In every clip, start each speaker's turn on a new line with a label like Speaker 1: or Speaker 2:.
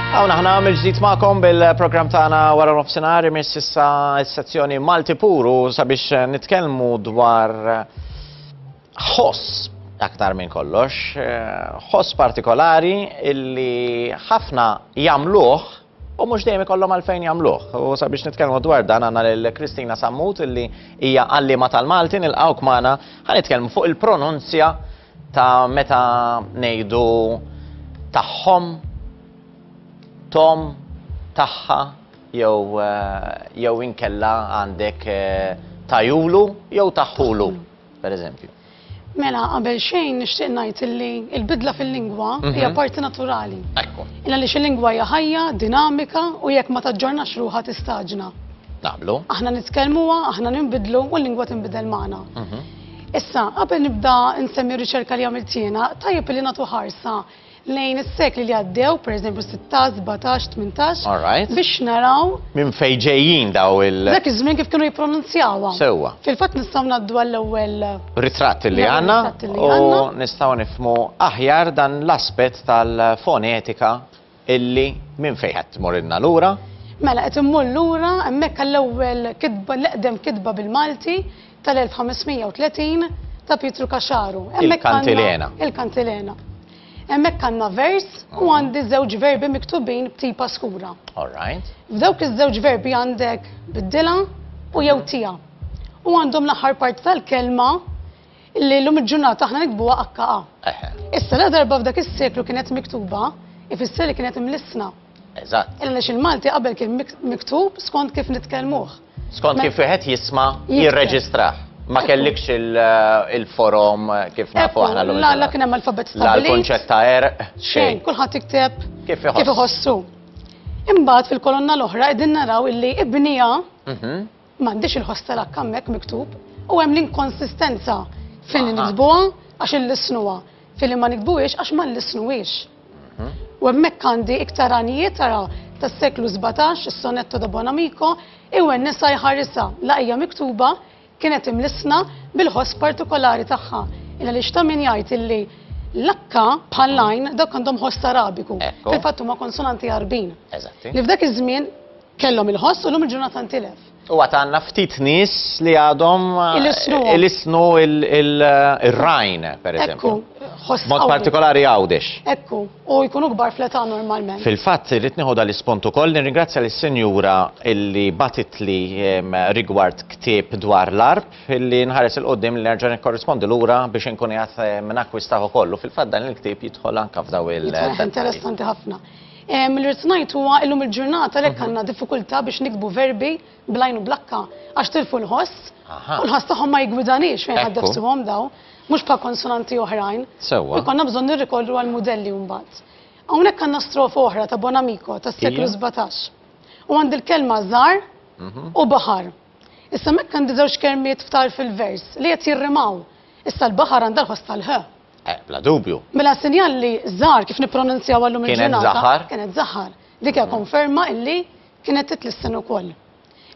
Speaker 1: Għawna ħna għamil ġdijt maqom bil-program taħna wara nofsenar imis issa s-sezzjoni Malti Puru sabiex eh, nitkelmu dwar eh, ħoss aktar minn kollox, eh, ħoss partikolari illi ħafna jamluħ u mhux dejjem ikollhom għalfejn jagħmluh. U sabiex nitkellmu dwar dan għandna lil Kristina Sammut li hija għalliema tal-Malti nilqgħuk magħna ħa nitkellmu fuq il-pronunzja ta' meta ngħidu tagħhom, tom, tagħha jew eh, jew inkella għandek eh, tajulu jew taħħulu. pereżempju. Mela, qabel
Speaker 2: xejn nixtieq ngħid illi l-bidla fil-lingwa mhm. hija parti naturali. Ekku. Illa li
Speaker 1: xil-lingwa hija
Speaker 2: ħajja, dinamika u jekk ma taġġornax ruħha tistaġna. Naqblu. Aħna
Speaker 1: nitkellmuha,
Speaker 2: aħna ninbidlu u l-lingwa tinbidel magħna. Mhm. Issa, qabel nibda nsemmi riċerka li għamilt jiena, tajjeb li nagħtu ħarsa lejn is-sekli li għaddew, pereżempju 16, 17, 18, All right. biex naraw Minn fejn ġejjin
Speaker 1: daw il. dak iż-żmien kif kienu
Speaker 2: jippronunzjawha. Sewwa. Fil-fatt
Speaker 1: nistgħu ngħaddu
Speaker 2: għall-ewwel Ritratt li L-ewwel
Speaker 1: għandna ritratt li u għandna. nistgħu nifhmu aħjar dan l-aspett tal-fonetika illi minn fejn qed tmurrilna lura. Mela qed immur
Speaker 2: lura hemmhekk għall-ewwel kitba, l-eqdem kitba bil-Malti, tal-1530 ta' Pietru Kaxaru. Il-Kantilena.
Speaker 1: Il-Kantilena.
Speaker 2: Hemmhekk għandna vers u għandi żewġ verbi miktubin b'tipa skura. All right. F'dawk iż-żewġ verbi għandek biddila u jew mhm. tija. U għandhom l-aħħar part tal-kelma li l-lum il-ġurnata aħna nikbuha akkaqa. Issa la darba f'dak is-seklu kienet miktuba, ifisser li kienet imlissna. Eżatt. Għaliex
Speaker 1: il-Malti qabel
Speaker 2: kien miktub skont kif nitkellmuh. Skont kif wieħed
Speaker 1: jisma' jirreġistrah. Ma kellikx il-forom kif nafu aħna l-lum. La, la kien hemm alfabet stabbilit.
Speaker 2: La l-kunċett ta'
Speaker 1: erq. Xejn, kulħadd
Speaker 2: jikteb kif iħossu. Imbagħad fil-kolonna l-oħra qegħdin naraw illi ibnija mhm. M'għandix il-ħoss tal-hakk hemmhekk miktub u hemm l-inkonsistenza filli niktbuha għax illissnuha, filli ma niktbuhiex għax ma nlissnuhiex. U hemmhekk għandi iktar għanijiet tara tas-seklu sbatax, is-Sonetto da Buon Amico, iwennisha jħarisha la hija miktuba, kienet imlissna bil-ħoss partikolari tagħha. Il għaliex ta' min jgħid illi l-akka bħall-għajn dawk għandhom ħoss Arabiku. Fil-fatt huma konsonanti Għarbin. Li f'dak iż-żmien Kellhom il-ħoss u llum il-ġurnata ntilef. U għat għanna ftit
Speaker 1: nis li għadhom eh, il-isnu il-rajn, eh, per eżempju. Mod partikolari għawdex. Ekku, u
Speaker 2: jkunu gbar fleta normalment. Fil-fat, li tniħu
Speaker 1: dal-ispontu koll, nirringrazzja l-senjura illi batit li rigward ktib dwar l-arb, illi nħares il-qoddim li nerġan korrispondi l-ura biex nkun jgħat minn akkwistaħu kollu. Fil-fat, dan il-ktib jitħol anka f'daw il-. Interessanti
Speaker 2: ħafna. Li rrid ngħid huwa illum il-ġurnata lek għandna diffikultà biex nikbu verbi blajn u blakka għax tilfu l-ħoss u l-ħoss tagħhom ma jiggwidanix fejn ħadd nefsuhom daw, mhux bħal konsonanti oħrajn. Sewwa. Konna bżonn
Speaker 1: nirrikorru
Speaker 2: għal mudelli mbagħad. Hawnhekk għandna strofa oħra ta' Bonamico tas-seklu 17. U għandi l-kelma żar mhm. u baħar. Issa mekk għandi żewġ kelmiet ftar fil-vers li qed jirrimaw. Issa l-baħar għandha l-ħoss tal-ħ. Eh, bla dubju.
Speaker 1: Mela s-sinjal li
Speaker 2: żar kif nippronunzjaw għallum il-ġurnata. Kienet zaħar. Kienet zaħar.
Speaker 1: Dik
Speaker 2: hija konferma illi kienet titlissen ukoll.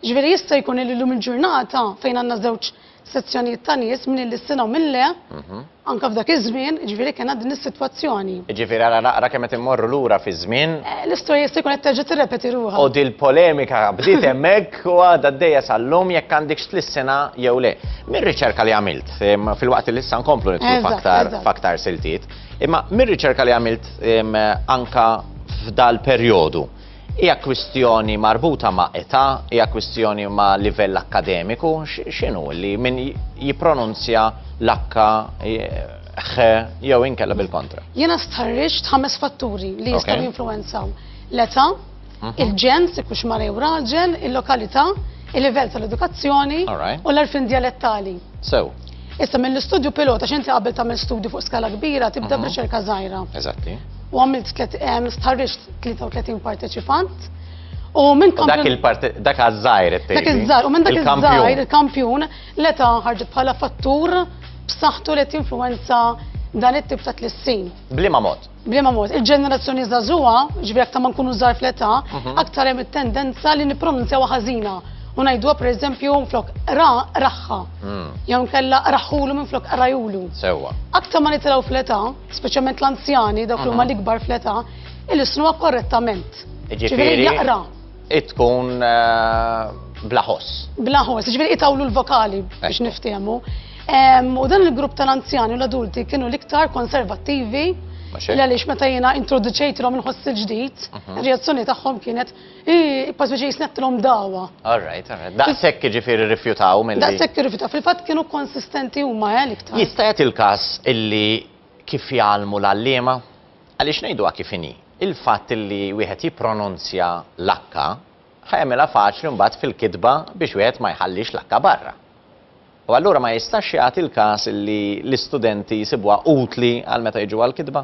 Speaker 2: Ġifieri jista' jkun li llum il-ġurnata fejn għandna żewġ sezzjonijiet ta' nies minn li s-sena u minn le, mhm. anka f'dak iż-żmien, ġifieri kien din is-sitwazzjoni. Ġifieri għala naqra
Speaker 1: kemm qed immorru lura fi żmien. Eh, l-istorja jista' jkun qed
Speaker 2: terġa' tirrepeti ruħha. U dil-polemika
Speaker 1: bdiet hemmhekk u għadha d-dejja sal-lum jekk għandikx tlissina jew le. Mir-riċerka li għamilt, Fil-waqt li issa nkomplu nitlu faktar siltiet. Imma mir-riċerka li għamilt anka f'dal perjodu, hija kwistjoni marbuta ma' età, hija kwistjoni ma' livell akkademiku, x'inhu li min jippronunzja l-akka jew inkella bil-kontra? Jiena stħarriġt
Speaker 2: ħames fatturi li jistgħu jinfluwenzaw l-età, Mhm. il-ġens, jekk hux mara jew raġel, il-lokalità, il-livell tal-edukazzjoni u l-arfin dialettali. Sew. Issa mill-istudju pilota x'inti qabel tagħmel studju fuq skala kbira tibda mhm. b'riċerka żgħira. Eżatti. U
Speaker 1: għamilt
Speaker 2: stħarriġ 33 parteċipant. U minn kampjun. Dak il-parti, dak
Speaker 1: għazzajr it Dak iż-żajr, u minn dak
Speaker 2: iż-żajr, il-kampjun, l-eta ħarġet bħala fattur b'saħħtu li tinfluenza dan it-tip ta' tlissin. Blima mod.
Speaker 1: Bliema mod, il-ġenerazzjoni
Speaker 2: żagħżugħa, ġifieri aktar ma nkunu żgħar fl-età, mhm. aktar hemm it-tendenza li nippronunzjaw ħażina. U ngħiduha pereżempju flok ra raħħa. Hmm. Jew nkella raħħulu minn flok rajulu. Sewwa. Aktar ma
Speaker 1: nitilgħu
Speaker 2: fl-età, speċjalment l-anzjani, dawk li huma mhm. l-ikbar fl-età, il-isnuha korrettament. Ġifieri jaqra. Itkun
Speaker 1: eh, blaħos. Blaħos,
Speaker 2: ġviri itawlu l-vokali biex niftehmu. U dan il-grupp tal-anzjani u l-adulti kienu l-iktar konservattivi l-għalix meta jena introduċejt l-om nħoss il-ġdijt, mhm. reazzjoni taħħom kienet, pas biex jisnet l-om dawa. All right, all right.
Speaker 1: Daqsek ġifiri rifjutaw mill Daqsek rifjutaw, fil-fat kienu
Speaker 2: konsistenti u ma' eh, l-iktar. Jistajat il-kas
Speaker 1: illi kif jgħalmu l-allima? Għaliex ngħiduha kif inhi, il-fatt li wieħed jippronunzja l-H ħa jagħmilha faċli mbagħad fil-kitba biex wieħed ma jħallix l-H barra. U allura ma jistax jagħti l-każ li l-istudenti jsibuha utli għal meta jiġu għall-kitba?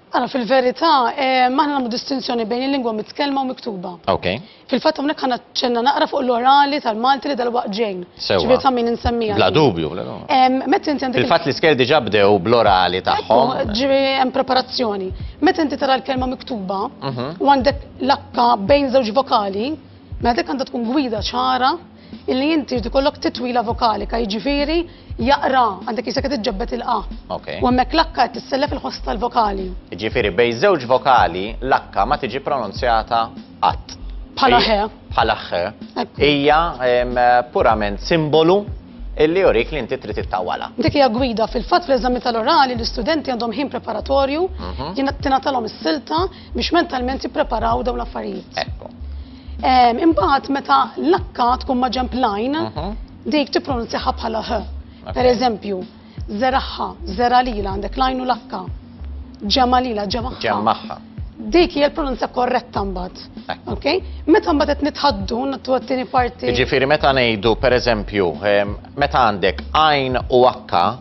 Speaker 1: Ara,
Speaker 2: fil-verità, ehm, aħna nagħmlu distinzjoni bejn il-lingwa mitkellma u miktuba. Okay. Fil-fatt
Speaker 1: hawnhekk ħa
Speaker 2: naċċenna naqra fuq l-orali tal-Malti li dalwaqt ġejn. Sewwa. Ġifieri ta' min insemmiha.
Speaker 1: Bla
Speaker 2: dubju, bla dubju.
Speaker 1: Em, Meta inti għandek
Speaker 2: Fil-fatt l-iskel diġà bdew
Speaker 1: bl-orali tagħhom. Ekku, ġifieri hemm
Speaker 2: preparazzjoni. Meta inti tara l-kelma miktuba u għandek l-akka bejn żewġ vokali, mela dik għandha tkun gwida ċara Illi inti jrid ikollok titwila vokalika, jiġifieri jaqra għandek jisek qed iġġebbed il-qa. Okay. U hemmhekk l-akka qed tissellef il-ħoss tal-vokali. Jiġifieri bejn
Speaker 1: żewġ vokali l-akka ma tiġi pronunzjata qatt. Bħala ħe.
Speaker 2: Bħala ħe.
Speaker 1: Hija purament simbolu illi jurik li inti trid ittawala. Dik hija gwida
Speaker 2: fil-fatt fl-eżami tal-orali l-istudenti għandhom ħin preparatorju, mhm. jien tingħatalhom is-silta Biex mentalment jippreparaw dawn l-affarijiet.
Speaker 1: Ekku. Imbagħad
Speaker 2: meta l-akka tkun ma' ġemp lajn, mhm. dik tippronunzjaha bħala h. Per eżempju, zeraħħa, zera lila għandek lajn u l-akka. Ġemma lila, ġemma. Ġemmaħħa.
Speaker 1: Dik hija l-pronunzja
Speaker 2: korretta mbagħad. Ok? Meta mbagħad qed nitħaddu nattu għat-tieni parti. Jiġifieri meta ngħidu
Speaker 1: pereżempju, meta għandek għajn u akka,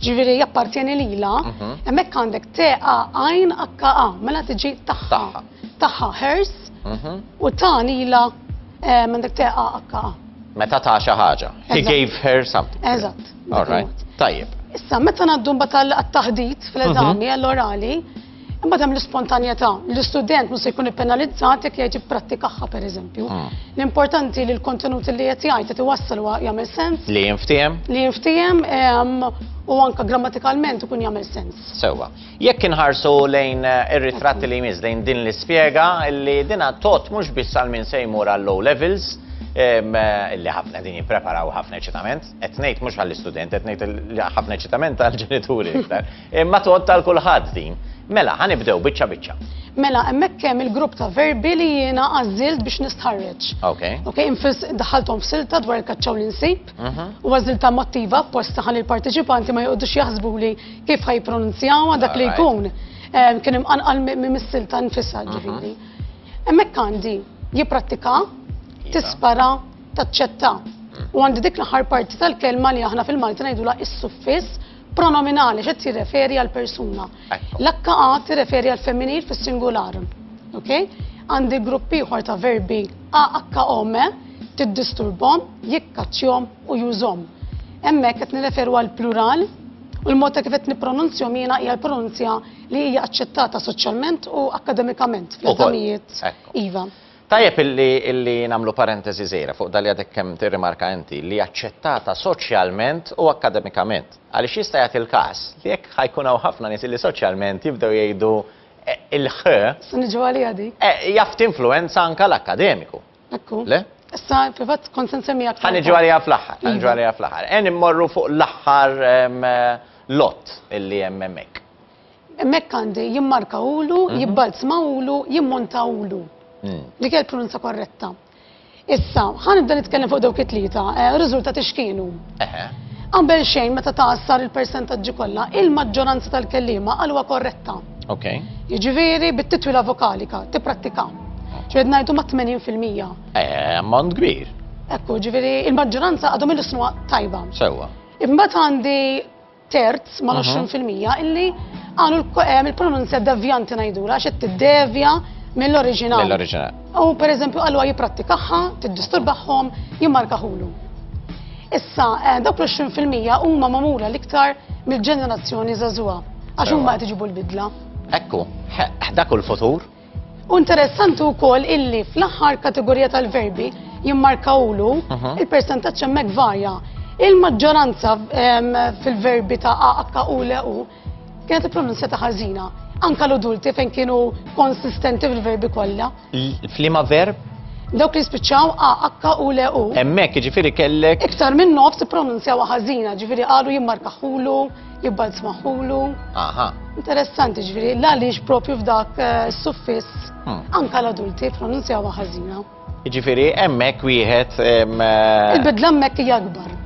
Speaker 2: ġiviri jappartjeni lila, mhm. emmek għandek teqa għajn akka a, mela tiġi taħħa. Taħħa hers mhm. u tani lila eh, għandek teqa akka a. Meta ta' xi
Speaker 1: ħaġa. He gave her something. Eżatt. All right. Tajjeb. Issa, meta naddum
Speaker 2: batal għat-taħdit fl-eżami mhm. għall-orali, Imbagħad hemm l-ispontanjetà. L-istudent mhux se jkun ippenalizzat jekk jgħid jipprattikaha pereżempju. Ah. L-importanti li l-kontenut li qed jgħid qed iwassal huwa jagħmel sens. Li jinftiehem? Li
Speaker 1: jinftiehem
Speaker 2: ehm, u anka grammatikalment ikun jagħmel sens. Sewwa. Jekk
Speaker 1: inħarsu lejn eh, ir-ritratti li jmiss lejn din l-ispjega li dina tot mhux biss għal min se jmur għal low levels, ehm, eh, li ħafna din jippreparaw ħafna ċitament, qed ngħid mhux għall-istudent, qed ngħid ħafna ċitament għall-ġenituri iktar. Imma tgħodd għal kulħadd din. Mela, ħa nibdew biċċa biċċa. Mela, hemmhekk
Speaker 2: hemm il-grupp ta' verbi li jiena għażilt biex nistħarreġ. Ok. Ok, infis daħalthom f'silta dwar il-kaċċaw li nsib mhm. u għażilta mottiva apposta ħalli l-parteċipanti ma joqgħodux jaħsbu li kif ħajpronunzjawha dak li jkun eh, kien imqanqal mis-silta nfisha mhm. ġifieri. Hemmhekk għandi jipprattika, iva. tispara, taċċetta. Mhm. U għandi dik l-aħħar parti tal-kelma li aħna fil-Malti ngħidulha is-suffiss Pronominali xed tirreferi għal persuna. L-akka għad tirreferi għal femminil fis-singular. Ok? Għandi grupp ieħor ta' verbi a akka ome tiddisturbhom, jikkaċċjhom u jużhom. Hemmhekk qed nirreferu għal plural u l-mod ta' kif qed nippronunzjhom jiena hija l-pronunzja li hija aċċettata soċjalment u akademikament fl-eżamijiet iva. Tajjeb
Speaker 1: illi nagħmlu parentesi żgħira fuq dak li għadek kemm tirrimarka inti, li aċċettata soċjalment u akkademikament. Għaliex jista' jagħti l-każ li jekk ħa jkun hawn ħafna nies illi soċjalment jibdew jgħidu il-ħ. Se niġu għaliha
Speaker 2: dik. Jaf tinfluwenza
Speaker 1: anke l-akkademiku. Hekk hu. Le?
Speaker 2: Issa
Speaker 1: fil-fatt
Speaker 2: kont se nsemmi aktar. Ħa niġu għaliha fl-aħħar, ħa
Speaker 1: niġu għaliha fl-aħħar. Għen immorru fuq l-aħħar lott illi hemm hemmhekk. Hemmhekk
Speaker 2: għandi jimmarkawlu, mhm. jibbalzmawlu, jimmontawlu. Hmm. Dik hija l-pronunza korretta. Issa, ħan nibda nitkellem fuq dawk it-tlieta, eh, riżultati x'kienu. Qabel xejn meta taqsar il-persentaġġi kollha, il-maġġoranza tal-kellima għalwa korretta. Ok. Jiġifieri bit-titwila vokalika, tipprattika. Ġed ngħidu ma' 80%. Eh, ammont kbir. Ekku, ġifieri il-maġġoranza għadhom il-isnuha tajba. Sewwa. Imbagħad
Speaker 1: għandi
Speaker 2: terz ma' 20% illi għanu il-pronunzja devjanti najdura xed t-devja mill-oriġinal. Mill-oriġinal. U
Speaker 1: per eżempju għallu
Speaker 2: għaj jiprattikaħħa, t-disturbaħħom, jimmarkaħulu. Issa, eh, dawk l-20% huma mamura l-iktar mill-ġenerazzjoni zazua, għax huma qed iġibu l-bidla. Ekku,
Speaker 1: dak l-futur. U interessanti
Speaker 2: wkoll illi fl-aħħar kategorija tal-verbi jimmarkawlu il-persentaġġ hemmhekk varja. Il-maġġoranza fil-verbi ta' akka u le u kienet il-pronunzja ta' ħażina. Anka l-udulti fejn kienu konsistenti fil-verbi kollha. Flima verb?
Speaker 1: Dawk li spiċċaw
Speaker 2: a akka u le u. Hemmhekk jiġifieri kellek.
Speaker 1: Iktar minn nofs
Speaker 2: pronunzjaw ħażina, ġifieri qalu jimmarkaħulu Jibba nsmaħulu. Aha.
Speaker 1: Interessanti ġviri,
Speaker 2: la lix propju f'dak eh, suffis, hmm. anka l-adulti pronunzjaw ħażina. Ġifiri,
Speaker 1: emmek wieħed. Eh, Il-bidla
Speaker 2: emmek jgħakbar.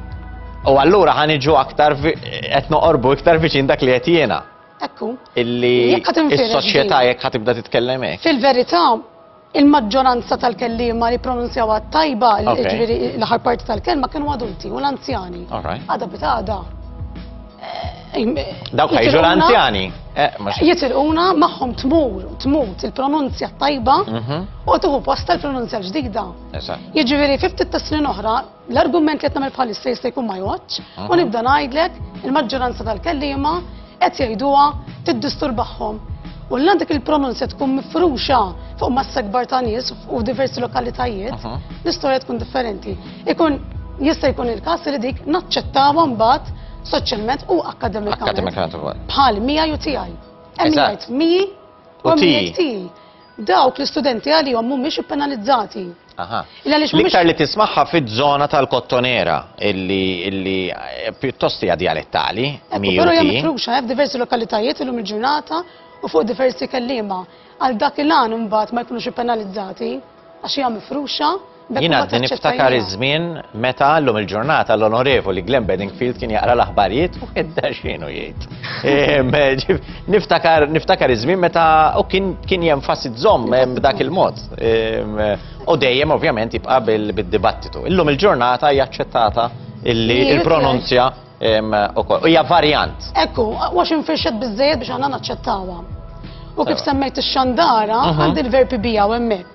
Speaker 2: U allura
Speaker 1: ħaniġu aktar qed noqorbu iktar viċin dak li qed jiena. Ekku.
Speaker 2: Illi
Speaker 1: is-soċjetà jekk ħatibda titkellem hekk. Fil-verità,
Speaker 2: Il-maġġoranza tal-kelliema li pronunzjawha t-tajba, l- Ok. ġifieri l-aħħar parti tal-kelma, kienu adulti u l-anzjani. All right. Għada bit għada. eh, im-
Speaker 1: Dawk ħajġu jitilquna- l-anzjani. Eh, mhux- Jitilquna
Speaker 2: magħhom tmur, tmut il-pronunzja tajba Mhm. u tuħu posta l-pronunzja ġdida. Eżatt. Jiġifieri fi ftit tas-snin oħra L-argument li qed nagħmel bħalissa jista' jkun ma jgħoddx u nibda ngħidlek il-maġġoranza tal-kelliema qed jgħiduha tiddisturbahom. U l għandek il-pronunzja tkun mifruxa fuq massa kbar ta' nies u diversi lokalitajiet, l-istorja tkun differenti. Ikun jista' jkun il-każ li dik naċċettawha mbagħad soċjalment u akkademikament. Bħal mija ju tiegħi. Hemm jgħid mi u tiegħi. Dawk l-istudenti għalihom mhumiex ippenalizzati. Aha. Illa għaliex mhumiex-
Speaker 1: L-iktar li tismagħha fiż-żona tal-Kottonera illi illi eh, pjuttost hija djalettali, Ekku, miju Però hija ti. mifruxa
Speaker 2: eh, f'diversi lokalitajiet illum il-ġurnata u fuq diversi kelliema. Għal dak il-għan imbagħad ma jkunux ippenalizzati għax hija mifruxa Jien għadni
Speaker 1: niftakar iż-żmien meta għallum il-ġurnata l-onorevoli Glenn Bedingfield kien jaqra l-aħbarijiet u għedda xinu jgħid. Ehm, niftakar niftakar iż-żmien meta u kien kien jenfasizzhom ehm, b'dak il-mod. Ehm, u dejjem ovvjament jibqa' bil-dibattitu. Illum il-ġurnata hija aċċettata illi il-pronunzja ukoll. Hija varjant. Ekku, għax
Speaker 2: infirxet biżejjed biex aħna naċċettawha. U kif semmejt ix-xandara, għandi l-verbi bija u hemmhekk.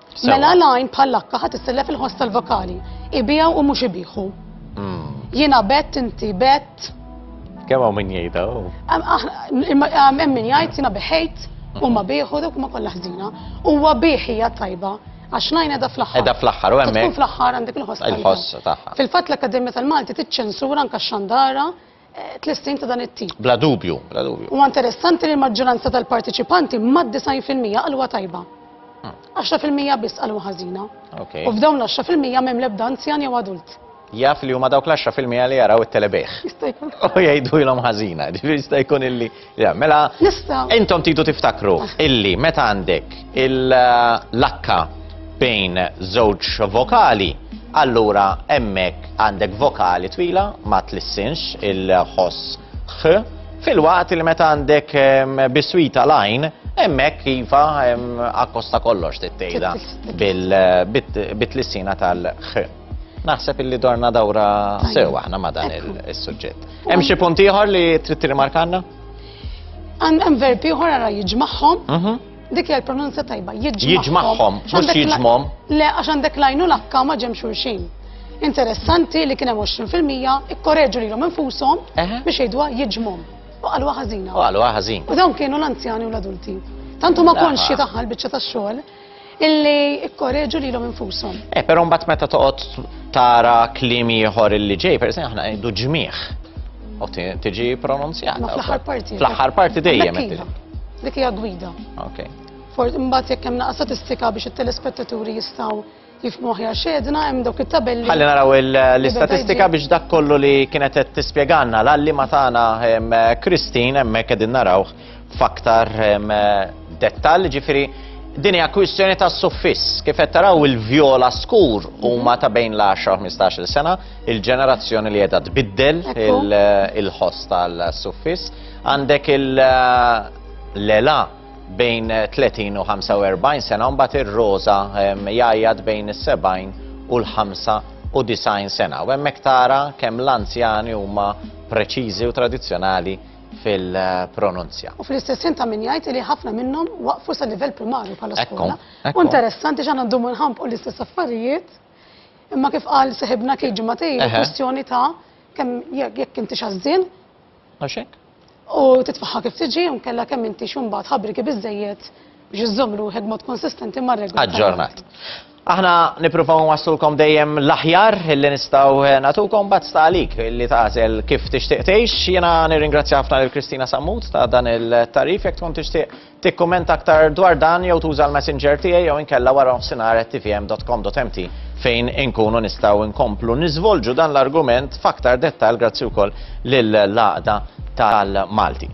Speaker 2: Mela l-għajn bħal-akka ħat issellef il-ħoss tal-vokali. Ibijaw u mux ibiħu. Hmm. Jina bet, inti bet. Kemm hawn
Speaker 1: min jgħidha?
Speaker 2: Hemm min jgħid jiena beħejt u ma bieħu dawk ma kollha ħżina. Huwa bieħija tajba għax najn edha fl-axħar. Edha fl-axħar, u għemmek.
Speaker 1: fl-axħar għandek il-ħoss.
Speaker 2: Il-ħoss taħħa. Fil-fat
Speaker 1: l-Akademija tal-Malti
Speaker 2: tiċċensura anka xandara tlessin ta' dan it-tip. Bla dubju, bla dubju.
Speaker 1: U interessanti
Speaker 2: li l-maġġoranza tal-partiċipanti mad 90% qalwa tajba. 10% hmm. biss qalwa ħażina. U f'dawn l-10% m'hemm l-ebda anzjan jew adult. Jaf li huma dawk l-10%
Speaker 1: li jaraw it-telebejħ. Jista' jkun. U jgħidu ilhom ħażina, jista' jkun illi Ja, mela, intom tidu tiftakru ah. illi meta għandek il-lakka bejn żewġ vokali, allura emmek għandek vokali twila ma tlissinx il-ħoss ħ, fil-waqt li meta għandek biswita lajn, emmek kifa akkosta kollox tittejda bil-tlissina tal-ħ. Naħseb illi dorna dawra sew aħna ma dan il-suġġett. Hemm xi punt ieħor li trid tirrimarkanna?
Speaker 2: Hemm verb ieħor ara jiġmagħhom. Mhm. Dik hija l-pronunzja tajba, jiġmagħhom. Jiġmagħhom,
Speaker 1: mhux jiġmhom. Le, għax għandek
Speaker 2: lajnu l-akka ma ġem xulxin. Interessanti li kien hemm 20% ikkoreġu lilhom infushom biex jgħidwa jiġmhom. U qalu ħażina. U qalu ħażin. U dawn kienu l-anzjani u l-adulti. Tantu ma konxi taħħal biċċa tax-xogħol illi ikkoreġu lilhom infushom. Eh, però mbagħad meta
Speaker 1: toqgħod tara kliem ieħor illi ġej, per esempio, aħna ngħidu ġmieħ. U tiġi pronunzjata. Fl-aħħar parti. Fl-aħħar
Speaker 2: parti dejjem.
Speaker 1: Iva. Dik hija
Speaker 2: gwida. Okay. For imbagħad jekk hemm naqsa statistika biex it-telespettaturi jistgħu kif moħi għax edna hemm dawk it-tabelli. Ħalli naraw l-istatistika
Speaker 1: biex dak kollu li kienet qed tispjegalna l-għalli ma tagħna Kristin hemmhekk qegħdin naraw f'aktar dettall, ġifieri din hija kwistjoni ta' suffiss. Kif qed taraw il-vjola skur huma ta' bejn l-10-15 sena, il-ġenerazzjoni li qiegħda tbiddel il-ħoss tal-suffiss. Għandek il-lela bejn 30 u 45 sena u mbagħad ir-roża jgħajjat bejn is-70 u l-95 sena. U hemmhekk tara kemm l-anzjani huma preċiżi u tradizzjonali fil-pronunzja. U fl-istess ta'
Speaker 2: min jgħid li ħafna minnhom waqfu sa livell primarju bħala skola. U interessanti x'għandna ndumu nħampu l-istess affarijiet. Imma kif qal seħibna kif ġimgħatej, kwestjoni ta' kemm jekk inti xażżin, Għax hekk? U titfaħħa kif tiġi u nkella kemm intix imbagħad ħabriki biżejjed biex iżżomm ruħek mod konsistenti mar-regoli. Aġġornat.
Speaker 1: Aħna nippruvaw nwaslulkom dejjem l-aħjar li nistgħu eh, nagħtukom bad stalik li tagħżel kif tixtieq tgħix. Jiena nirringrazzja ħafna lil Kristina Sammut ta' dan il-tarif jekk tkun tixtieq Tikkummenta aktar dwar dan jew tuża l-Messenger tiegħi jew inkella waranofsinhar@tvm.com.mt fejn inkunu nistgħu nkomplu niżvolġu dan l-argument f'aktar dettall grazzi wkoll lill-Għaqda tal-Malti.